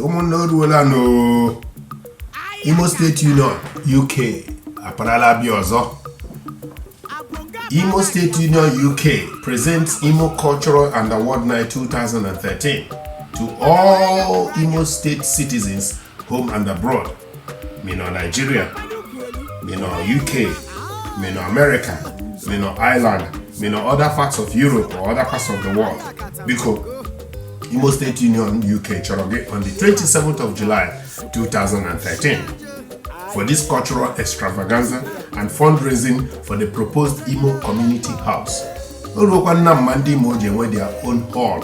ụmụnne oruola n'Imo steeti union UK aparala bịa ọzọ Imo State Union UK presents Imo Cultural and Award Night 2013 to all Imo State citizens, home and abroad. ma ị nọ Naịjirịa ma ị nọ UK ma ị nọ Amerịka ma ị nọ Ireland ma ị nọ other parts of Europe or other parts of the world biko Imo State Union UK chọrọ gị on the 27th of July 2013 for this cultural extravaganza and fundraising for the proposed Imo Community House. O ruokwana mma ndị Imo ji enwe their own hall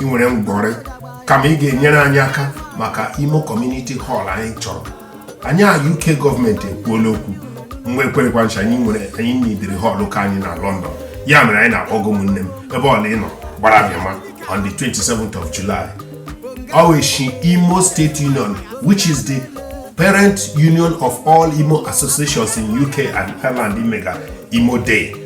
ị nwere ngwọrị kama ị ga-enyere anyị aka maka imo community hall anyị chọrọ anyị na uk gọọmenti ekwuola okwu mgbe ekwerekwa ncha anyị nwere anyị nidiri hall nke anyị na lọndọn ya mere anyị na-akpọku ụmụnne m ebe ọla ị nọ gbara bịama on the 27th of july ọ wụ eshi imo state union which is the parent union of all imo associations in uk and ireland imega imo day